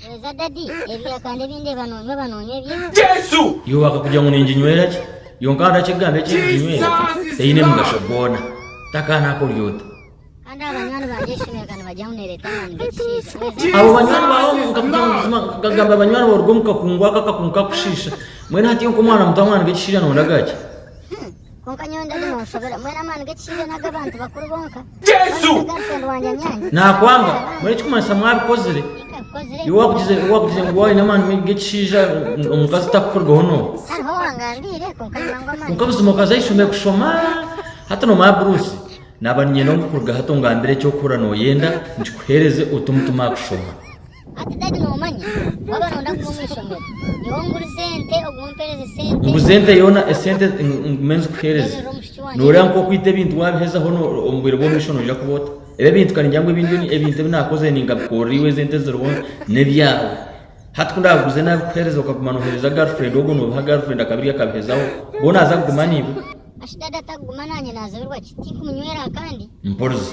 Hweza daddy, ebya kande ebindeeba nonywa oba nonywa ebye. Iwe akakugira ngu ninginywera ki? Yonka hariho akigamba eki eriginywera teine mugasho gwona. Taka nakori ota? Kandi abo banywani bangye ah'eishomero ka nibagira ngu nereeta amaani g'ekishaija. Hweza Abo daddy, banywani baawe omu nkakugira ngu buzima nkagamba banywani baawe oruga omu kakungu ako akakungu kakushiisha. Mbwenu hati iwe nk'omwana muto amaani g'ekishaija nondagaaki? Kwonka nyowe ndaguma omushobera. Mbwenu amaani g'ekishaija n'aga abantu bakuru bonka? Jesu! Mbwenu n'aga Ruhendo wangye anyange? Nakwanga. Mbwenu ekikumanyisa mwabikozire. Tikabikozire. Iwe wakugize wakugize ngu waine amaani g'ekishaija ngu omukazi takukurugaho n'omu. Hariho owangambiire kwonka nyowe ngu amaani. Kwonka buzima okaza ahaishomero kushoma hati nomara buruusi. Naaba niinyenda ngu kuruga hati ongambire eki orikuhurira noyenda nkikuhereze ote omutima aha kushoma. Ati, Dadi noomanya, waaba nooyenda kuza omu ishomero, nyowe ngurize ente, ogwo ompereze sente, Nguze ente yoona, esente ngume nzikuheereze. Ndeeberera omushiki wangye. Nooreeba nk'oku okwita ebintu waabihezaho no- omu bwire bw'omumaisho noija kuba ota? Reeba ebintu ka ningira ngu ebi nibyo ebintu ebi naakozire ningabikorera iwe ezi ente eziriho n'ebyawe. Hati ku naabiguze naabikuheereza okaguma nooheereza girlfriend ogwo noobiha girlfriend akabirya akabihezaho, bwo naaza kuguma naiwe? Ashi dadi atarikuguma naanye naazibirwa ki? Tinkumunywera aha kandi? Mporize.